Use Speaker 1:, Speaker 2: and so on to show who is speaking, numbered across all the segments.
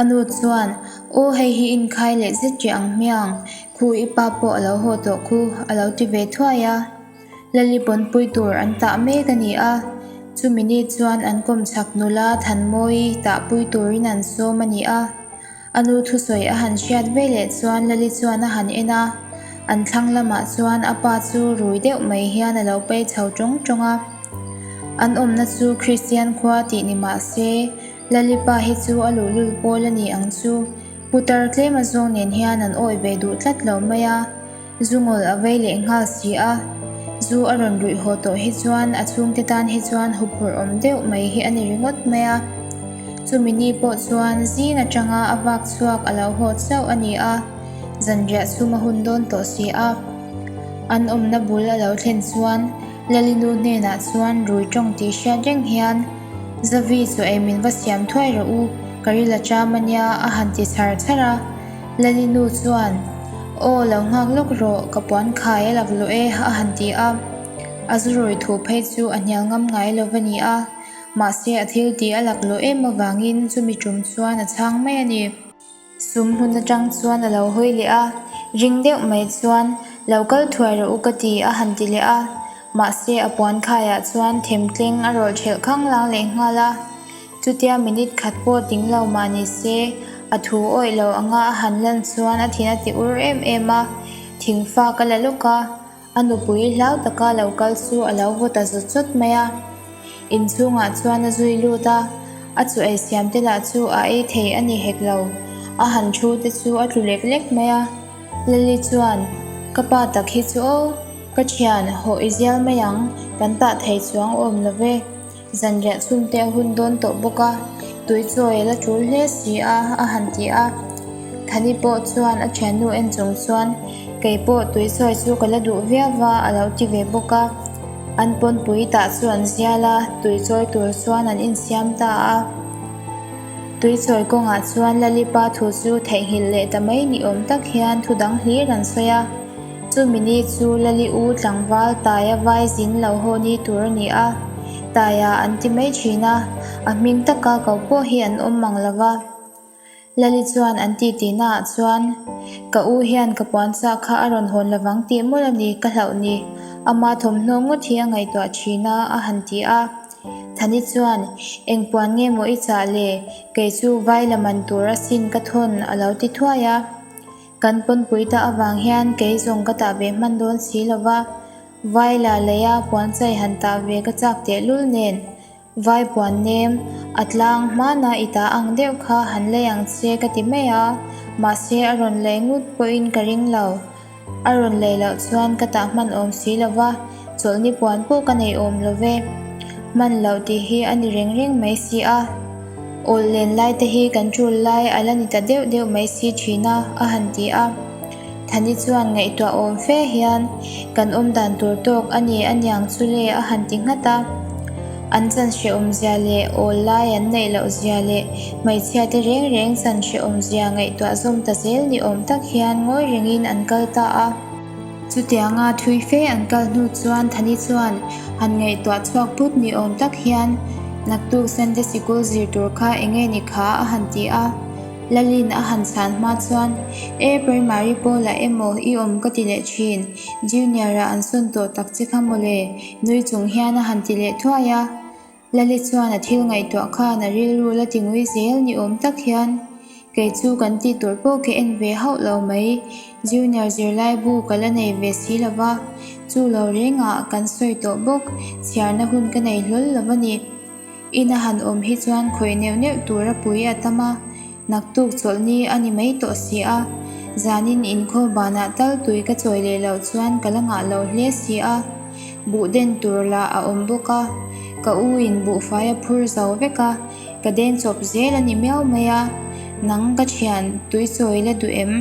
Speaker 1: A nu chuan, Aw, hei hi inkhai leh zet ri ang hmiang. Khu, i pa pawh a lo haw tawh khu, a lo ti ve thuai a. Lali pawnpui tur an tah mek a ni a, chumi ni chuan an kawm chak nul a, thanmawii tahpui turin an sawm a ni a. A nu thusawi a han hriat ve leh chuan Lali chuan a han en a, an thlang lamah chuan a pa chu rui deuh mai hian a lo pei chho tawng tawng a. An awmna chu Kristian khua tih ni mah se, Lalipa hi chu a luhlul pawl a ni ang chu. Putar tlema zawng nen hian an awih ve duh tlat lo mai a, zu ngawl a vei leh nghal si a. Zu a rawn ruih haw tawh hi chuan a chhungte tan hi chuan huphurh awm deuh mai hi a ni ringawt mai a. Chumi ni pawh chuan zing atanga a vak chhuak a lo hawt chauh a ni a, zanriah chhum a hun dawn tawh si a. An awmna bul a lo thlen chuan Lalinu hnenah chuan rui tawng tih hriat reng hian, Zavi chu ei min va siam thuai rawh u, ka ri la ṭam a nia, a han ti chhar chhar a. Lalinu chuan, Aw, lo nghak lawk rawh, ka puan khai a lak luh e, a han ti a. A zu rawi thu phei chu a hnial ngam ngai lo va ni a, mahse a thil ti a lak luh em avangin chumi ṭum chuan a chhang mai a ni. Sum hun atang chuan a lo hawi leh a, ring deuh mai chuan lo kal thuai rawh u ka ti a han ti leh a, mahse a puan khaiah chuan them tleng a rawlh ṭhelh khang lang leh nghal a, chutia minute khat pawh ding lo mah ni se a thu awih lo anga a han lan chuan a thin a ti ur em em a, thing fak a la lawk a. A nupui hlau taka lo kal chu a lo vawt a zut zut mai a. In chhungah chuan a zui lut a, a chu ei siam te lah chu a ei thei a ni hek lo. A han thu te chu a tlu lek lek mai a. Lali chuan, Ka pa tak hi chu aw, ka thian, haw i zial mai ang, kan tah thei chuang awm lo ve. Zanriah sum te a hun dawn tawh bawk a, tui chawi la tul hle si a a han ti a. Thani pawh chuan a thiannu en chung chuan kei pawh tui chawi chu ka la duh viau a a lo ti ve bawk a. An pawnpui tah chu an zial a, tui chawi tur chuan an insiam ta a. Tui chawi kawngah chuan Lalipa thu chu theihnghilh leh ta mai ni awm tak hian thu dang hlir an sawi a. Chumi ni chu Lali U tlangval Taia vai zin lo ho ni tur a ni a, Taia an ti mai thin a, a hming taka ko pawh hi an awm mang lo va. Lali chuan an titina ah chuan, Ka U hian ka puansa kha a rawn hawn lovang tih mawlh a ni, ka hlauh ni. Ama thawmhnaw ngawt hi a ngaihtuah thin a, a han ti a. Thani chuan, Eng puan nge maw i chah le, kei chu vai la man tur asin ka thawn a lo ti thuai a. Kan pawnpui ta avang hian kei zawng ka tah ve hman dawn si lo va, Vai la lei a puanchai han tah ve ka chak tehlul nen, Vai puan nem a tlang hmana i tah ang deuh kha han lei ang che ka ti mai a, mahse a rawn lei ngut pawhin ka ring lo, a rawn lei loh chuan ka tah hman awm si lo va. Chawlhni puan pawh ka nei awm lo ve. Hman loh tih hi a ni reng reng mai si a, awl len lai te hi kan tul lai a la ni ta deuh deuh mai si thin a, a han ti a. Thani chuan ngaihtuah awm fe hian, Kan awm dan tur tawk a ni a niang chu le a han ti nghat a. An chanhrehawm zia leh awl lai an neih loh zia leh hmeichhia te reng reng chanhrehawm zia ngaihtuah zawm ta zel ni awm tak hian ngawi rengin an kal ta a. Chutianga thui fe an kal hnu chuan Thani chuan han ngaihtuah chhuak put ni awm tak hian naktuk Sunday sikul zir tur kha eng nge ni kha a han ti a. Lalin a han chhan hma chuan, E, Primary pawlah emaw i awm ka ti leh thin, Junior-ah an sawn tawh tak che kha maw le, nui chung hian a han ti leh thuai a. Lali chuan a thil ngaihtuah khan a rilru la tingui zel ni awm tak hian, Kei chu kan tih tur pawh ka en ve hauh lo mai, Junior zirlaibu ka la nei ve si lo va, chu lo rengah kan sawi tawh bawk, chhiarna hun ka nei hlawl lo a ni. Ina han awm hi chuan khawih neuh neuh tura pui a tam a. Naktuk chawlh ni a ni mai tawh si a, zanin in khawhbanah tal tui ka chawi leh loh chuan ka la ngah lo hle si a, buh den tur lah a awm bawk a, ka u in buhfai a phur zo vek a, ka den chawp zel a ni miau mai a, nang ka thian tui chawi la duh em?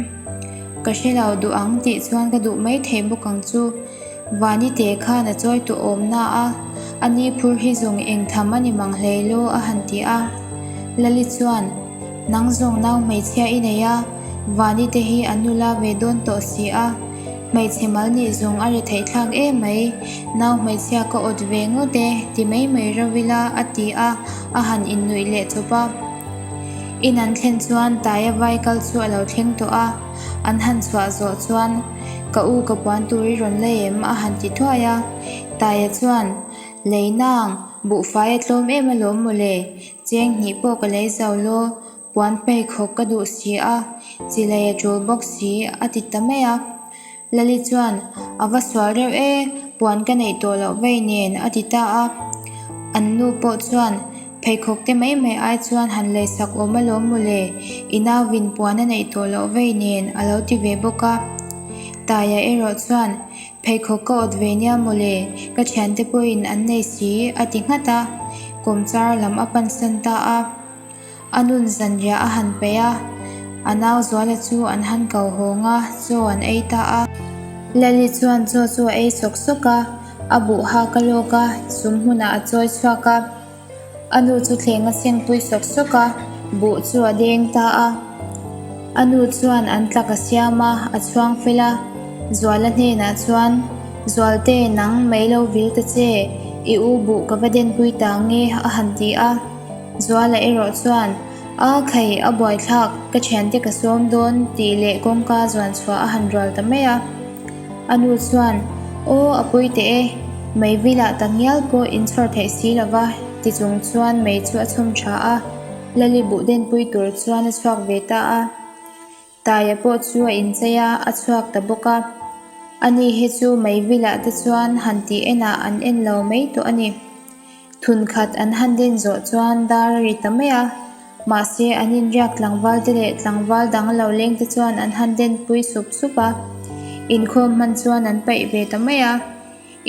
Speaker 1: Ka hre lo duh ang tih chuan ka duh mai thei bawk ang chu. Vani te khan a chawi tawh awm na a, a ni phur hi zawng eng tham a ni mang hlei law a han ti a. Lali chuan, Nang zawng nau hmeichhia i nei a, Vani te hi a nu la ve dawn tawh si a, hmeichhe mal nih zawng a ri theih thlak em mai, nau hmeichhia ka awt ve ngawt e ti mai mai reuh ila a ti a, a han innuih leh chawp a. In an thlen chuan Taia vai kal chu a lo thleng tawh a. An han chhuah zawh chuan, Ka u, ka puan tur i rawn la em? a han ti thuai a. Taia chuan, Lei nang, buhfai a tlawm em a lawm mawle, cheng hnih pawh ka lei zau law puan pheikhawk ka duh si a, chilei a tul bawk si, a ti ta mai a. Lali chuan, A va sual reuh e, puan ka neih tawh loh vei nen, a ti ta a. An nu pawh chuan, Pheikhawkte mai mai ai chuan han lei sak awm alawm maw le, i nauvin puan a neih tawh loh vei nen, a lo ti ve bawk a. Taia erawh chuan, Pheikhawk ka awt ve nia maw le, ka thiante pawhin an nei si, a ti nghat a, kawmchar lam a pansan ta a. A nun zanriah a han peih a. A nau Zuala chu an han kauhawng a, chaw an ei ta a. Lali chuan chaw chu a ei sawk sawk a, a buh hak a lawk a, sum hmunah a chawi chhuak a. A nu chu thleng a sengpui sawk sawk a, buh chu a deng ta a. A nu chuan an tlak a siam a, a chhuang fel a. Zuala hnenah chuan, Zualte, nang mei lo vilte che, i u buh ka va denpui ta nge, a han ti a. Zuala erawh chuan a thlai a buaithlak ka thiante ka sawm dawn tih leh kawngka zuan chhuah a han rual ta mai a. A nu chuan Aw a puite e, mei vilah tak ngial pawh in chhuar theih si lova ti chung chuan mei chu a chhum tha a, Lalibuh den pui tur chuan a chhuak ve ta a. Taia pawh chu a inchei a, a chhuak ta bawk a. Ani hi chu mei vilah te chuan han tih enah an en lo mai tawh a ni. Thun khat an han din zawh chuan dar a ri ta mai a, mahse an inriak tlangval te leh tlangval dang lo leng te chuan an han den pui sup sup a. Inkhawm hman chuan an paih ve ta mai a,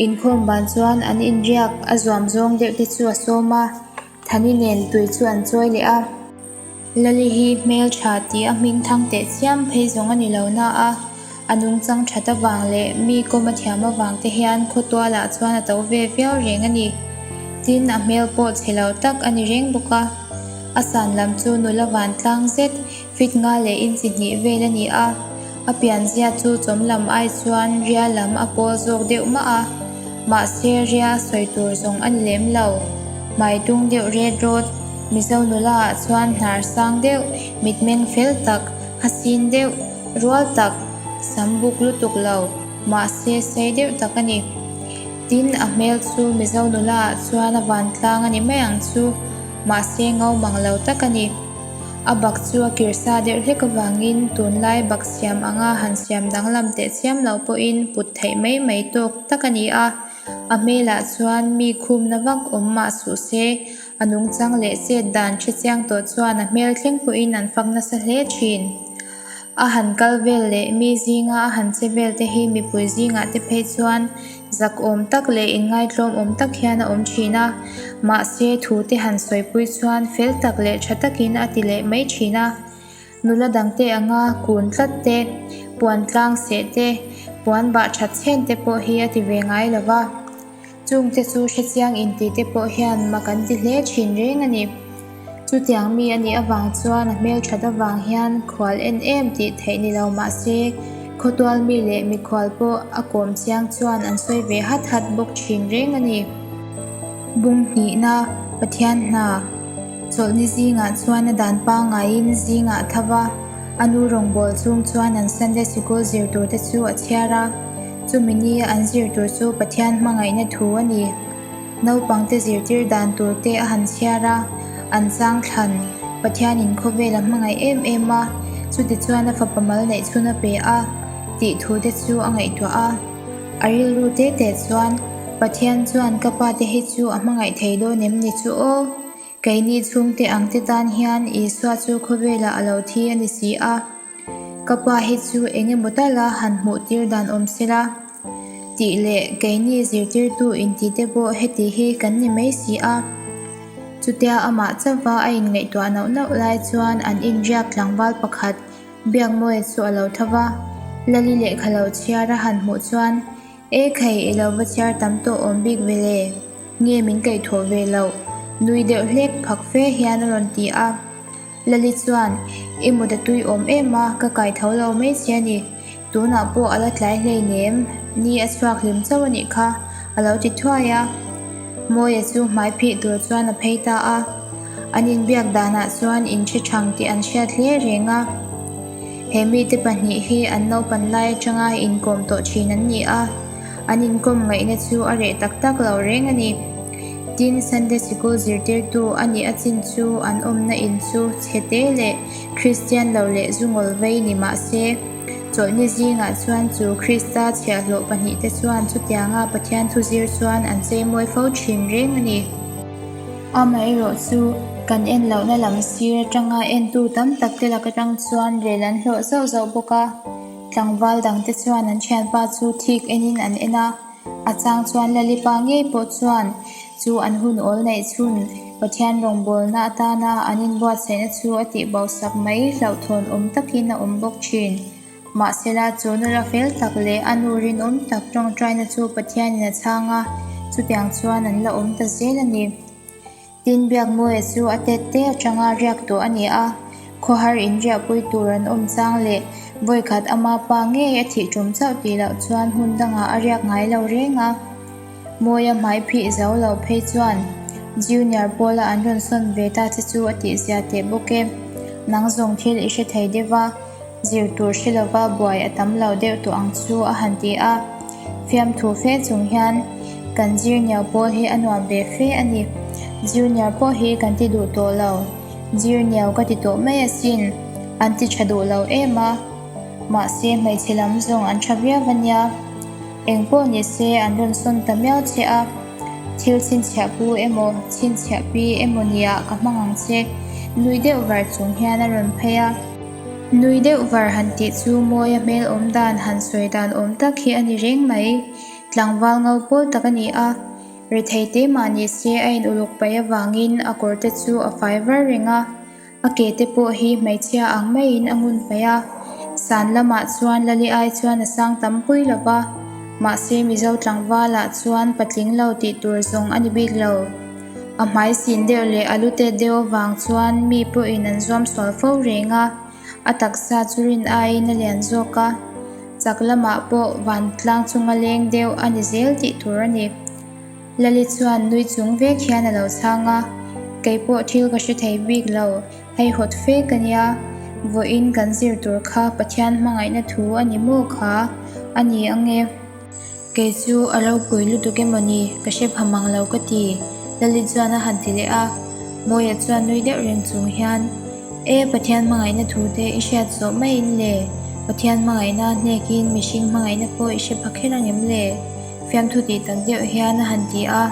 Speaker 1: inkhawm ban chuan an inriak a zuam zawng deuh te chu a sawm a. Thani nen tui chu an chawi leh a. Lali hi hmeltha tih a hming thang teh thiam phei zawng a ni lo nah a, a nungchang that avang leh mi kawma thiam avang te hian khawtualah chuan a to ve viau reng a ni. Tin, a hmel pawh chhe lo tak a ni reng bawk a. A san lam chu nula vantlang zet. Feet nga leh inchi hnih vel a ni a, a pianzia chu chawm lam ai chuan ria lam a pawl zawk deuh mah a, mahse ria sawi tur zawng a ni lem lo. Hmai tung deuh red road, Mizo nula ah chuan hnar sang deuh, mit meng fel tak, hasin deuh, rual tak, sam buk lutuk lo, mahse sei deuh tak a ni. Tin, a hmel chu Mizo nula ah chuan a vantlang a ni mai ang chu, mahse ngo mang lo tak a ni. A bak chu a kir sa der hlek avangin tunlai bak siam anga han siam danglam teh chiam loh pawhin put theih mai mai tawk tak a ni a. A hmelah chuan mi khumna vak awm mah suh se, a nungchang leh chet dan ṭha chiang tawh chuan a hmel thleng pawhin an fak nasa hle ṭhin. A han kal vel leh mi zinga a han che vel te hi mipui zingah te phei chuan zak awm tak leh inngaithlawm awm tak hian a awm thin a. Mahse, thu te han sawipui chuan fel tak leh tha takin a ti leh mai thin a. Nula dangte anga kun tlat te, puan tlang seh te, puan bah that chhen te pawh hi a ti ve ngai lo va. Chung te chu hre chiang in tih te pawh hian ma kan ti hle thin reng a ni. Chutiang mi a nih avang chuan a hmel that avang hian khual en em tih theih ni lo mah se, khawtual mi leh mikhual pawh a kawm chiang chuan an sawi ve hat hat bawk thin reng a ni. Bung hnihna, Pathian hna chawlh ni zingah chuan a dan pangaiin zing a thava, a nu rawngbâwl chung chuan an Sunday Sikul zir tur te chu a chhiar a. Chumi ni an zir tur chu Pathian hmangaihna thu a ni. Naupangte zirtir dan tur te a han chhiar a, an chang thlan Pathianin khawvel a hmangaih em em a, chutichuan a fapa mal neih chhun a pe a tih thu te chu a ngaihtuah a. A rilru te te chuan, Pathian chuan ka pa te hi chu a hmangaih thei dawn em ni chu aw, keini chhungte ang te tan hian Isua chu khawvela a lo thi a ni si a. Ka pa hi chu eng emaw tal a han hmuh tir dan awm se la, tih leh keini zirtirtu inti te pawh heti hi kan ni mai si a. Chutia amah chauha a inngaihtuah nauh nauh lai chuan an inriak tlangval pakhat Biakmawia chu a lo tho va, Lali lehkha lo chhiar a han hmuh chuan, E khai i lo va chhiar tam tawh awm bik vele, nge min kaih thuah ve loh, nui deuh hlek phak fe hian a rawn ti a. Lali chuan, I muda tui awm em a, ka kai tho lo mai che a ni. Tunah pawh a la tlai hleinem ni a chhuak hlim chauh a nih kha a lo ti thuai a. Mawia chu hmai phih tur chuan a phei ta a, an inbiak danah chuan in hre chhang tih an hriat hle reng a. He mite pahnih hi an naupan lai atanga inkawm tawh thin an ni a, an inkawm ngaihna chu a reh tak tak lo reng a ni. Tin, Sunday Sikul zirtirtu a nih a chin chu an awmna in chu chhete leh Kristian lo leh zungawl vei ni mah se, chawlhni zingah chuan chu Krista chhiahhlawh pahnih te chuan chutianga Pathian thu zir chuan an cheimawi fo thin reng a ni. Amaherawh chu, kan en lohna lam sir atanga entu tam tak te lak atang chuan rel an hlawh zauh zauh bawk a. Tlangval dangte chuan an thianpa chu thik enin an en a. A chang chuan Lalipa ngei pawh chuan chu an hun awl neih chhun Pathian rawngbawlna atana an inbuatsaihna chu a tihbosak mai hlauhthawnawm takin a awm bawk thin. Mahsela chawnu rafel tak leh a nu rinawm tak tawngtaina chu Pathianin a chhang a, chutiang chuan an la awm ta zel a ni. Tin biak mawia chu a tet te atanga riak tawh a ni a, khawhar inriahpui tur an awm chang leh vawikhat ama pa ngei a thih ṭum chauh tih loh chuan hun dangah a riak ngai lo reng a. Mawia hmai phih zo loh phei chuan Junior Paula an rawn sawn ve ta che chu a tihzia teh bawk e, nang zawng thil i hre thei deuh va, zir tur hre lo va, buai a tam lo deuh tawh ang chu a han ti a, fiamthu fe chung hian kan zirnio pawl hi a nuam ve fe a ni, zirnir pawh hi kan ti duh tawh lo, zirnio ka ti tawh mai asin, an ti tha duh lo em a, mahse hmeichhe lam zawng an tha viau va nia, eng pawh ni se an rawn sawn ta miau che a, thil chhinchhiah pu emaw chhinchhiah pi emaw nia ka hmang ang che, nui deuh var chung hian a rawn phei a. Nui deuh var han tih chu mawia hmel awm dan han sawi dan awm tak hi a ni reng mai. Tlangval ngo pawl tak a ni a, ri thei te mahni se a in uluk paih avangin a kawr te chu a fai var reng a, a ke te pawh hi hmeichhia ang maiin a ngun paih a. San lamah chuan Lali ai chuan a sang tam pui lo va, mahse Mizo tlangvalah chuan patling lo tih tur zawng a ni bik lo. A hmai sin deuh leh a lu tet deuh avang chuan mi pawhin an zuam sual fo reng a. A taksa chu rin aiin a lian zawk a, chak lamah pawh vantlang chung a leng deuh a ni zel tih tur a ni. Lali chuan nui chung vek hian a lo chhang a, kei pawh thil ka hre thei bik lo, hei hawt fek a nia, vawiin kan zir tur kha Pathian hmangaihna thu a ni maw kha? A ni ang e. Kei chu a lo pui lutuk em awni, ka hre pham ang lo ka ti. Lalit chuan a han ti leh a. Mawia chuan nui deuh reng chung hian, E, Pathian hmangaihna thu te i hriat zawh mai in le? Pathian hmangaihna a hnekin mihring hmangaihna pawh i hre pha kher ang em le? Fiamthu ti tak deuh hian a han ti a.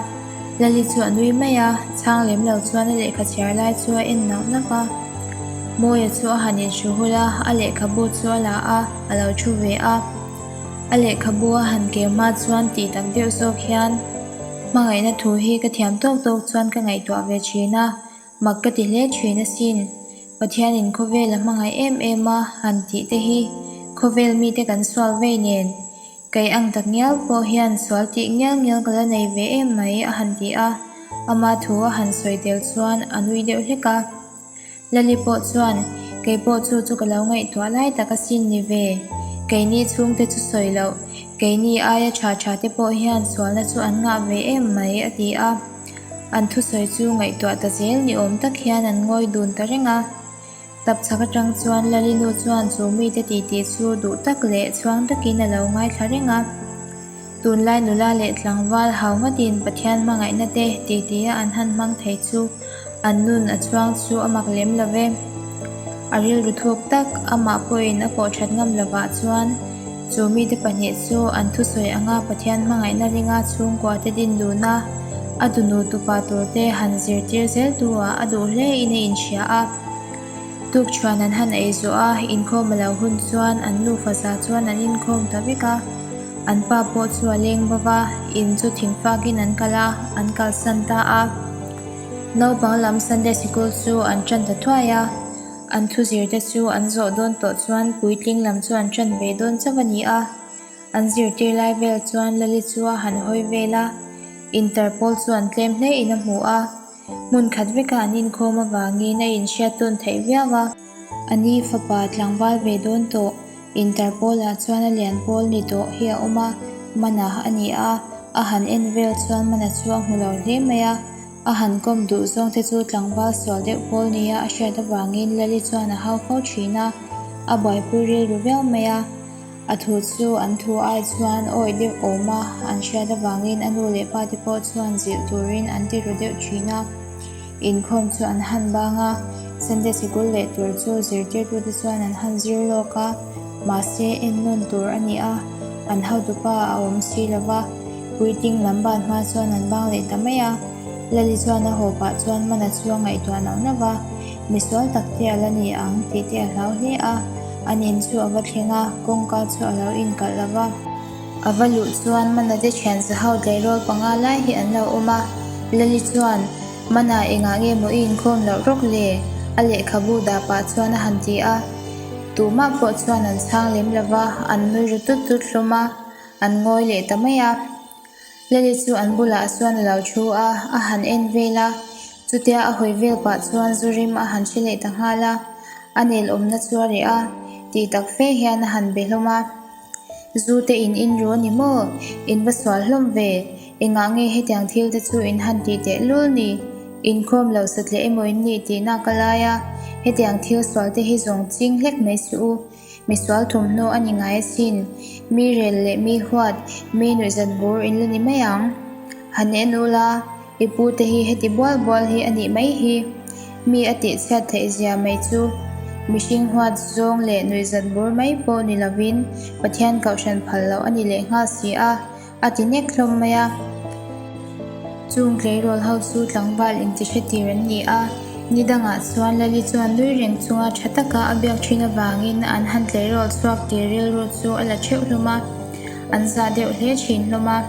Speaker 1: Lalit chu a nui mai a, chhang lem lo chuan a lehkha chhiar lai chu a en nauh nauh a. Mawia chu a han inhru hul a, a lehkhabu chu a la a, a lo thu ve a. A lehkhabu a han kema chuan tih tak deuh zawk hian hmangaihna thu hi ka thiam tawk tawk chuan ka ngaihtuah ve thin a, mak ka ti hle thin asin. Pathianin khawvela hmangaih em em a han tih te hi khawvel mite kan sual vei nen. Kei ang tak ngial pawh hian sual tih ngial ngial ka la nei ve em mai a han ti a, ama thu a han sawi tel chuan a nui deuh hlek a. Lali pawh chuan, Kei pawh chu chu ka lo ngaihtuah lai tak a sin ni ve. Keini chhungte chu sawi loh, keini aia tha tha te pawh hian sualna chu an ngah ve em mai a ti a. An thusawi chu ngaihtuah ta zel ni awm tak hian an ngawi dun ta reng a. Tapchhak atang chuan Lali nu chuan chu mite titi chu duh tak leh chuang takin a lo ngaithla reng a. Tunlai nula leh tlangval hau ngawtin Pathian hmangaihna te tih tihia an han hmang thei chu an nun a chuang chu a mak lem lo ve. A rilru thuk tak amah pawhin a pawh that ngam lovah chuan chu mite pahnih chu an thusawi anga Pathian hmangaihna ringa chhungkua te din duna a dunu tupa tur te han zirtir zel tu ah a duh hlein a inhria a. Tukchuan an han ei zawh a, inkhawm a lo hun chuan an nufa za chuan an inkhawm ta vek a. An pa pawh chu a leng bawk a, in chu thing fak in an kal a, an kalsan ta a. Naupang lam Sunday Sikul chu an tan ta thuai a, an thu zir te chu an zawh dawn tawh chuan puitling lam chu an tan ve dawn chauh a ni a. An zirtir lai vel chuan Lali chu a han hawi vel a, in tar pawl chu an tlem hle in a hmu a. Hmun khat veka an inkhawm avangin a inhriat tawn theih viau a. Ani fapa tlangval ve dawn tawh. Interpol-ah chuan a lian pawl ni tawh hi a awm a, Mana a ni a. A han en vel chuan Mana chu a hmu lo hle mai a. A han kawm duh zawng te chu tlangval sual deuh pawl nia a hriat avangin Lali chuan a hau fo thin a, a buaipui rilru viau mai a. A thu chu an thu ai chuan awih deuh awm a an hriat avangin a nu leh pa te pawh chuan zilh turin an ti ru deuh thin a. Inkhawm chu an han bang a, Sunday sikul leh tur chu zirtirtu te chuan an han zir lawk a, mahse en nawn tur a ni a, an hotu pa a awm si lo va, Puiting lam ban hma chuan an bang leh ta mai a, Lali chuan a hawpah chuan man a chu a ngaihtuah nauh nauh a. Misual tak te a la ni ang tih te a hlau hle a, a nen chu a va thleng a, kawngka chu a lo inkalh lo va. A va luh chuan Manate thianza ho tleirawl panga lai hi an lo awm a, Lali chuan, Mana engah nge maw i inkhawm loh rawk le? a lehkhabu dah pah chuan a han ti a, tumah pawh chuan an chhang lem lo va, an nui ru tut tut hlawm a, an ngawi leh ta mai a. Lali chu an bulah chuan a lo thu a, a han en vel a. Chutia a hawi vel pah chuan zu rim a han hre leh ta nghal a, a nel awmna chu a reh a, tih tak fe hian a han be hlawm a. Zute in in ru a ni maw? In va sual hlawm ve. Engah nge hetiang thil te chu in han tih teh lul ni? In khawm lo sa tleh emaw in nih tihna ka lai a, hetiang thil sual te hi zawng ching hlek mai si u. Misual thawmhnaw a ni ngai asin. Mi rel leh mi huat, mi nuihzan bur in la ni mai ang. Han en ul a, i pu te hi heti bual bual hi a nih mai hi. Mi a tih chhiat theih zia mai chu mihring huat zawng leh nuihzan bur mai pawh ni lovin Pathian kohhran phal loh a ni leh nghal si a. A ti nek hlawm mai a. Chung tleirawl ho chu tlangval inti hre tir an ni a. Ni dangah chuan Lali chuan nui reng chunga tha taka a biak thin avangin an han tleirawl chhuak tir rilru chu a la theuh hlawm a, an zah deuh hle thin hlawm a.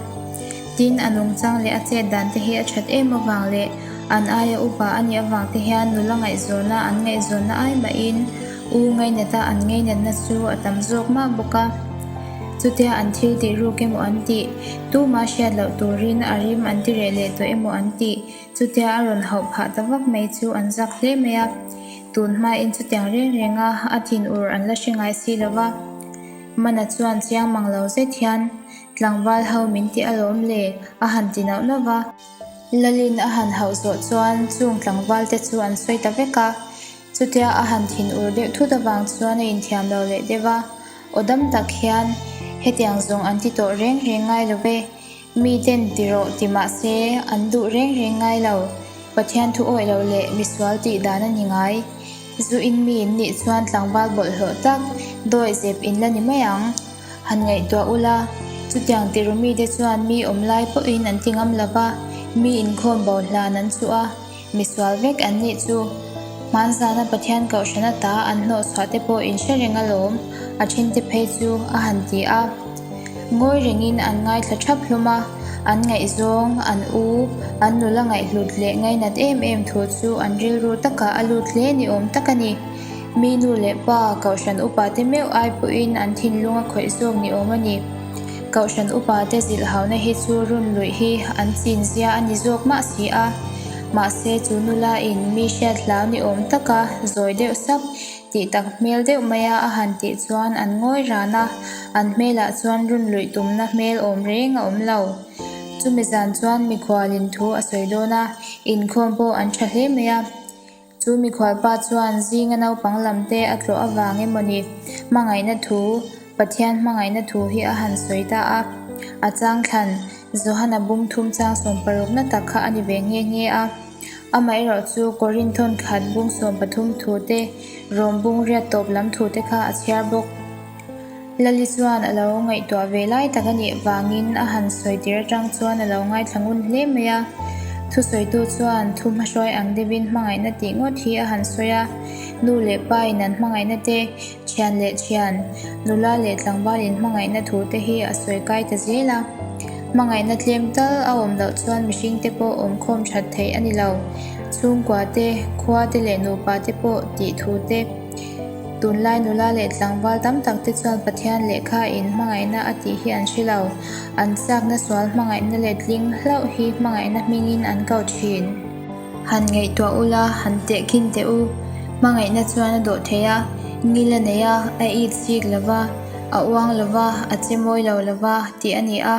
Speaker 1: Tin, a nungchang leh a chet dan te hi a that em avang leh an aia upa a nih avang te hian nula ngaihzawnah an ngaihzawnna ai mahin u ngaihnata an ngaihnatna chu a tam zawk mah bawk a. Chutia an thil tih ruk emaw an tih, tuma hriat loh turin a rim an ti reh leh tawh emaw an tih, chutia a rawn hauh phah ta vak mai chu an zak hle mai a. Tun hmain chutiang reng renga a thin ur an la hre ngai si lo va, Mana chuan chiang mang lo zet hian, Tlangval ho min ti alawm le, a han ti nauh nauh va. Lalin a han hauh zawh chuan chung tlangvalte chu an sawi ta vek a. Chutia a han thin ur deuh thut avang chuan a inthiam lo leh deuh a, aw dam tak hian hetiang zawng an ti tawh reng reng ngai lo ve. Miten ti rawh ti mah se an duh reng reng ngai lo. Pathian thu awih lo leh misual tih dan a ni ngai. Zu in mi in nih chuan tlangval bawlh hlawh tak, dawi zep in la ni mai ang. Han ngaihtuah u la, chutiang tihru mite chuan mi awm lai pawhin an ti ngam lo va, mi inkhawm bo hlan an chuh a. Misual vek an nih chu. Hmanzana Pathian kohhran ata an hnawh chhuah te pawh in hre reng alawm a thinte phei chu a han ti a. Ngawi rengin an ngaithla thap hlawm a, an ngaihzawng, an u, an nula ngaihlut leh ngainat em em thu chu an rilru taka a lut hle ni awm tak a ni. Minu leh pa, kohhran upa te meuh ai pawhin an thinlung a khawih zawk ni awm a ni. Kohhran upa te zilh hauhna hi chu run luih hi an chin zia a ni zawk mah si a, mahse chu nula in mi hriat hlau ni awm taka zawi deuh sap tih tak hmel deuh mai a a han tih chuan an ngawi ran a, an hmelah chuan run luih tumna hmel awm reng a awm lo. Chumi zan chuan mikhualin thu a sawi dawn a, inkhawm pawh an tha hle mai a. Chu mikhualpa chuan zinga naupang lam te a tlawh avang emawni hmangaihna thu, Pathian hmangaihna thu hi a han sawi ta a. A chang thlan, Johana bum thum chang sawm parukna tak kha a ni ve nghe nghe a. Amaherawh chu Korinthon khat bum sawm pathum thu te, Rome bung riat tawp lam thu te kha a chhiar bawk. Lali chuan a lo ngaihtuah ve lai tak a nih vangin a han sawi tir atang chuan a lo ngaithla ngun hle mai a. Thusawitu chuan thu hmahruai ang deuhin hmangaihna tih ngawt hi a han sawi a, nu leh pain an hmangaihna te, thian leh thian, nula leh tlangvalin hmangaihna thu te hi a sawi kai ta zel a. Hmangaihna tlem tal a awm loh chuan mihringte pawh awmkhawm that theih a ni lo. Chhungkua te, khua te leh nupa te pawh tih thu te, Tunlai nula leh tlangval tam tak te chuan Pathian lehkha in hmangaihna a tih hi an hre lo. An chakna sual hmangaihna leh tling hlauh hi hmangaihna hming in an kau thin. Han ngaihtuah u la, han tehkhin teh u. Hmangaihna chuan a dawh theih a, ngil a nei a, a it fik lo va, a uang lo va, a che mawi lo lo va tih a ni a.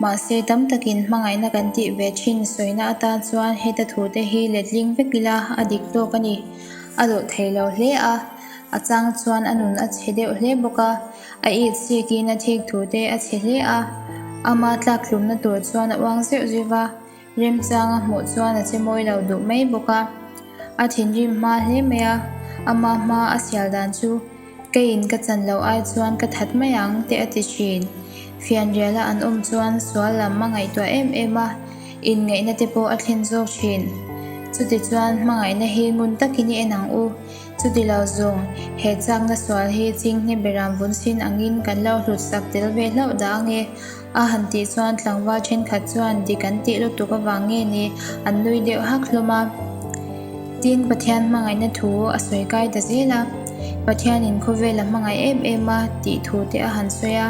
Speaker 1: Mahse, tam tak in hmangaihna kan tih ve thin sawina atan chuan heta thu te hi letling vek ila a dik tawk a ni. A luh thei lo hle a, a chang chuan a nun a chhe deuh hle bawk a, a it sik in a thik thu te a chhe hle a, ama tlak hlumna tur chuan a uang zeuh zeuh a, remchang a hmuh chuan a che mawi lo duh mai bawk a, a thinrim hma hle mai a, ama hma a sial dan chu. Ka in ka chan loh ai chuan ka that mai ang teh a ti thin. Fianriala an awm chuan sual lam a ngaihtuah em em a, inngaihna te pawh a thlen zawk thin. Chuti chuan hmangaihna hi ngun takin i en ang u. Chuti lo zung, he chakna sual hi chinghnge ber ang vun sin angin kan lo hlutsak tel ve hlauh dah ang e. A han tih chuan tlangval thenkhat chuan dik an tih lutuk avang nge ni an nui deuh hak hlawm a. Tin, Pathian hmangaihna thu a sawi kai ta zel a, Pathianin khawvel a hmangaih em em a tih thu te a han sawi a.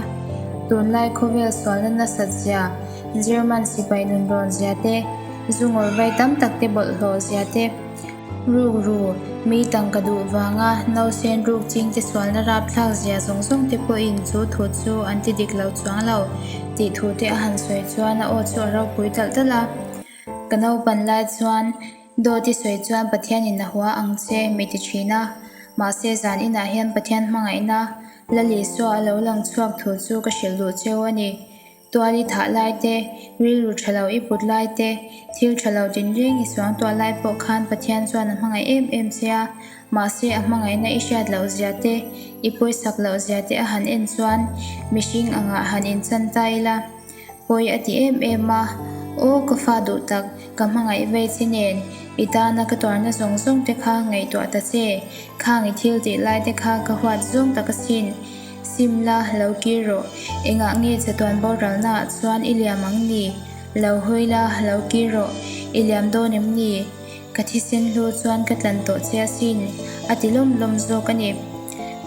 Speaker 1: Tunlai khawvel sualna nasat zia, German sipai nunrawn zia te, zungawrvai tam tak te bawlhhlawh zia te, Ruk ru, mi tang ka duh vanga nausen ruk chingte sualna rapthlak zia zawng zawng te pawhin chu thu chu an ti dik lo chuang lo tih thu te a han sawi chuan a aw chu a ropui talh talh a. Ka naupan lai chuan Dawti sawi chuan Pathian in a hua ang che mi ti thin a, mahse zan inah hian Pathian hmangaihna la li suah a lo lang chhuak thu chu ka hrilh duh cheu a ni. Tual i thah lai te, rilru tha lo i put lai te, thil tha lo din reng i suang tuah lai pawh khan Pathian chuan a hmangaih em em che a. Mahse, a hmangaihna i hriat loh zia te, i pawisak loh zia te a han en chuan mihring angah han inchanta ila. Pawi a ti em em a, Aw ka fa duh tak, ka hmangaih vei che nen, i tana ka tuarna zawng zawng te kha ngaihtuah ta che, khang i thil tih lai te kha ka huat zawng tak asin. Sim la, lo kir rawh. Engah nge chatuan boralnaah chuan i liam ang ni? Lo hawi la, lo kir rawh. I liam dawn em ni? Ka thisen hlu chuan ka tlan tawh che asin, a ti lawm lawm zawk a ni.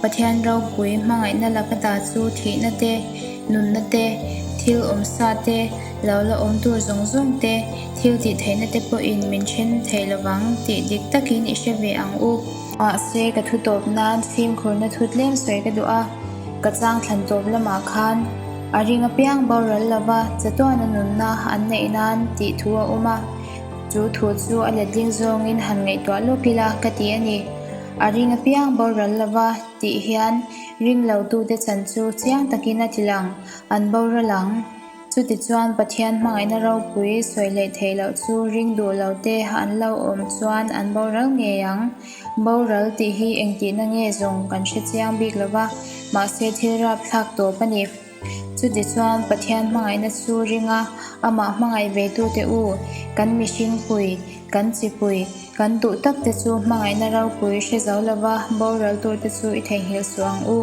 Speaker 1: Pathian ropui hmangaihna la ka ta chu thihna te, nunna te, thil awm sa te, lo la awm tur zawng zawng te, thil tih theihna te pawhin min then thei lo vang tih dik takin i hre ve ang u. Mahse, ka thu tawp nan fimkhurna thu tlem sawi ka duh a, ka chang thlan tawp lamah khan a ring apiang boral lova chatuana nunna an neih nan tih thu a awm a, chu thu chu a letling zawngin han ngaihtuah lawk ila ka ti a ni. A ring apiang boral lova tih hian ring lo tute chan chu chiang takin a tih lang, an boral ang. Chutichuan Pathian hmangaihna ropui sawi leh theih loh chu ring duh lo te an lo awm chuan an boral ngei ang. Boral tih hi engtihna nge zawng kan hre chiang bik lo va, mahse thilrap thlak tawp a ni. Chutichuan Pathian hmangaihna chu ringa amah hmangaih veitute u, kan mihringpui, kan chipui, Kan duh tak te chu hmangaihna ropui hre zo lo va, boral tur te chu i theihnghilh suh ang u.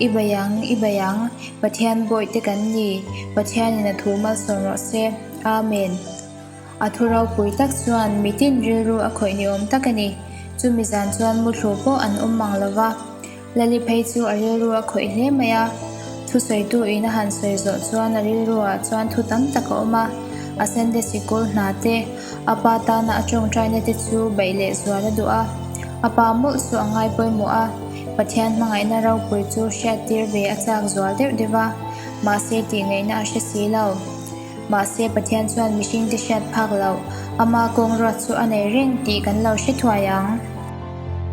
Speaker 1: I bei ang, i bei ang, Pathian bawi te kan ni, Pathianin a thu malsawn rawh se. Amen. A thu ropui tak chuan mitin rilru a khawih ni awm tak a ni. Chumi zan chuan muthlu pawh an awm mang lo va. Laliphei chu a rilru a khawih hle mai a, thusawitu in a han sawi zawh chuan a rilru ah chuan thu tam tak a awm a, a sende sikul hna te, a pa tana a tawngtaina te chu baih leh zual a duh a, a pa mawlh chu a ngai pawimawh a, Pathian hmangaihna ropui chu hriattir ve a chak zual deuh deuh a, mahse tih ngaihna a hre si lo. Mahse Pathian chuan mihringte hriat phak loh, ama kawngruat chu a nei reng tih kan lo hre thuai ang.